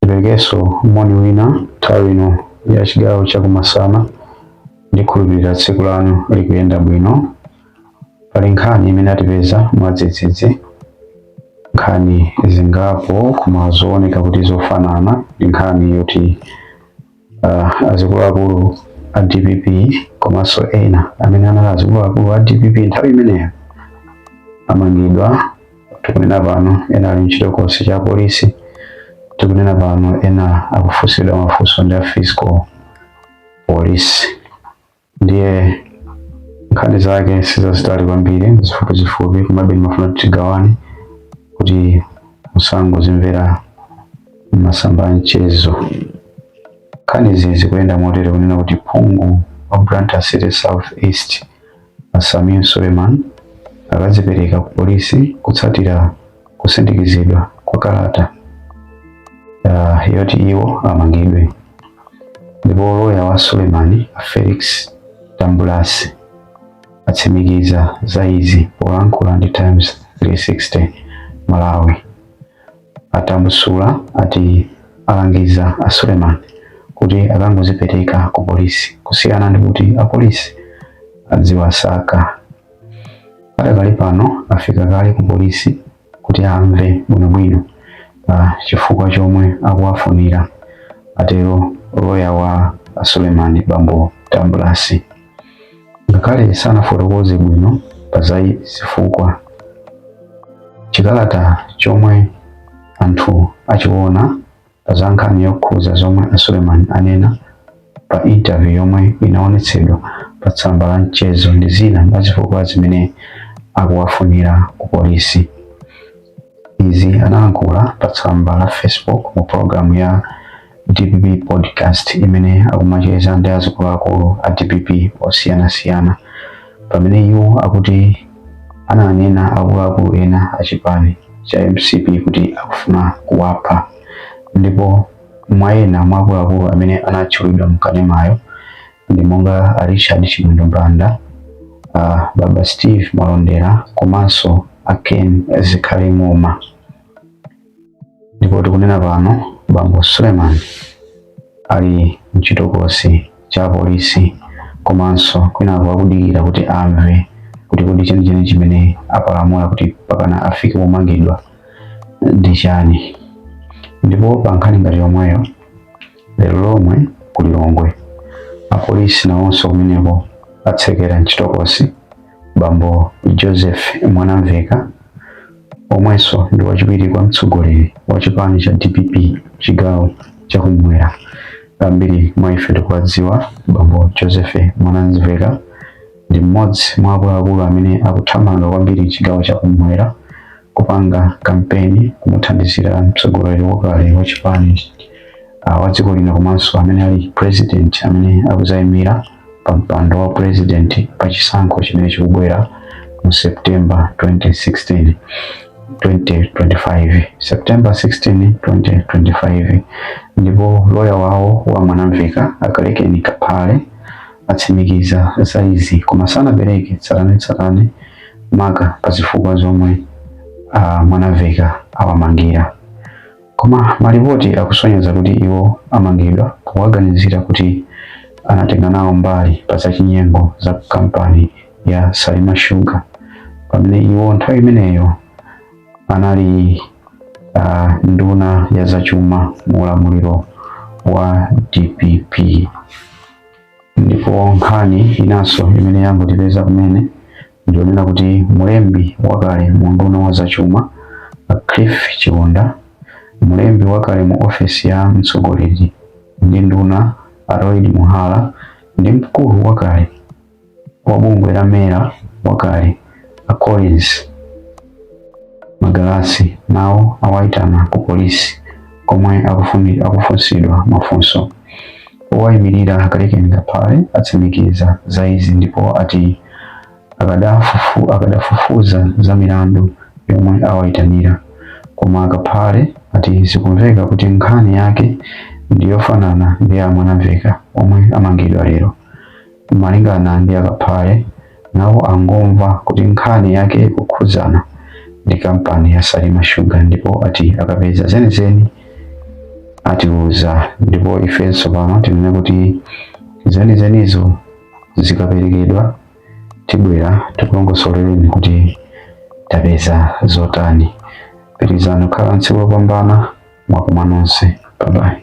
Tiperekenso moni wina nthawi ino ya chigawo cha kumasana. Ndikhulupirira tsiku lanu likuyenda bwino. Pali nkhani imene atipeza mwadzidzidzi, nkhani zingapo koma zooneka kuti zofanana ndi nkhani yoti uh, azikuluakulu a dpp komanso ena amene anali azikuluakulu a dpp nthawi imeneyo amangidwa tikunena pano ena ali mchitokosi cha polisi tikunena pano ena akufunsidwa mafunso ndi a fiscal police ndiye nkhani zake sizazitali kwambiri zifupizifupi komabe ndimafuna kuti tigawane kuti musangozimvera masamba a mchezo nkhanizi zikuyenda motere kunena kuti phungu wa Blantyre City South East a Sameer Suleiman akazipereka ku polisi kutsatira kusindikizidwa kwa kalata ah, yoti iwo amangidwe ndipo loya wa Suleiman a Felix Tambulasi atsimikiza za izi polankhula ndi Times 360 Malawi. A Tambusula ati alangiza a Suleman kuti akangozipereka ku polisi kusiyana ndi kuti apolisi adziwasaka. Padakali pano afika kale ku polisi kuti amve bwinobwino pa chifukwa chomwe akuwafunira, atero loya wa a Suleiman bambo Tambulasi. Ngakhale sanafotokoze bwino pa za zifukwa, chikalata chomwe anthu achiona pa za nkhani yokhudza zomwe a Suleman anena pa interview yomwe inaonetsedwa pa tsamba la mchezo ndi zina mwa zifukwa zimene akuwafunira ku polisi. Izi analankhula pa tsamba la Facebook mu programu ya DPP podcast imene akumacheza ndi azikuluakulu a DPP osiyanasiyana. pamene iwo akuti ananena akuluakulu ena a chipani cha mcp kuti akufuna kuwapha ndipo mwa ena mwa akuluakulu amene anatchulidwa mkanemayo ndi monga a richard chimwendo banda a baba steven malondera komanso a ken zikhale ng'oma ndipo tikunena pano bambo Suleman ali mchitokosi cha apolisi komanso kwinaku akudikira kuti amve kuti kodi chenicheni chimene apalamula kuti pakana afike pomangidwa ndi chani ndipo pa nkhani ngati yomweyo lero lomwe ku lilongwe apolisi nawonso kumeneko atsekera mchitokosi bambo Joseph Mwanamveka omwenso ndi wachiwiri kwa mtsogoleri wa chipani cha DPP chigawo cha kumwera. Ambiri mwa ife tikuwadziwa bambo Joseph Mwanamveka ndi mmodzi mwa akuluakulu amene akuthamanga kwambiri chigawo cha kumwera kupanga kampeni kumuthandizira mtsogoleri wakale wa chipani ah, wa dziko lino komanso amene ali president amene akuzayimira pa mpando wa president pa chisankho chimene chikubwera mu September 2016 2025 September 16 2025 ndipo loya wawo wa Mwanamveka a Kalekeni Kaphale atsimikiza za izi koma sanapereke tsatanetsatane maka pa zifukwa zomwe uh, Mwanamveka awamangira Koma malipoti akusonyeza kuti iwo amangidwa powaganizira kuti anatenga nawo mbali pa zachinyengo za ku kampani ya Salima Sugar pamene iwo nthawi imeneyo anali uh, nduna ya zachuma mu ulamuliro wa DPP. ndipo nkhani inanso imene yangotipeza kumene ndi yonena kuti mlembi wakale mu unduna wa zachuma a cliff chiunda mlembi wakale mu ofesi ya mtsogoleri ndi nduna a lloyd muhara ndi mkulu wakale wa bungwe la mera wakale a Collins Magalasi nawo awaitana ku polisi komwe akufunsidwa mafunso. Owayimirira a Kalekeni Kaphale atsimikiza za izi ndipo ati akadafufuza za milandu yomwe awaitanira. Koma a Kaphale ati zikumveka kuti nkhani yake ndi yofanana ndi ya Mwanamveka omwe amangidwa lero. Malingana ndi a Kaphale, nawo angomva kuti nkhani yake ikukhudzana ndi kampani ya Salima Sugar ndipo ati akapeza zenizeni atiuza ndipo ifenso pano tinene kuti zenizenizo zikaperekedwa tibwera tikulongosolereni kuti tapeza zotani. Pitirizani kukhala tsiku lopambana mwakoma nonse. Bye bye.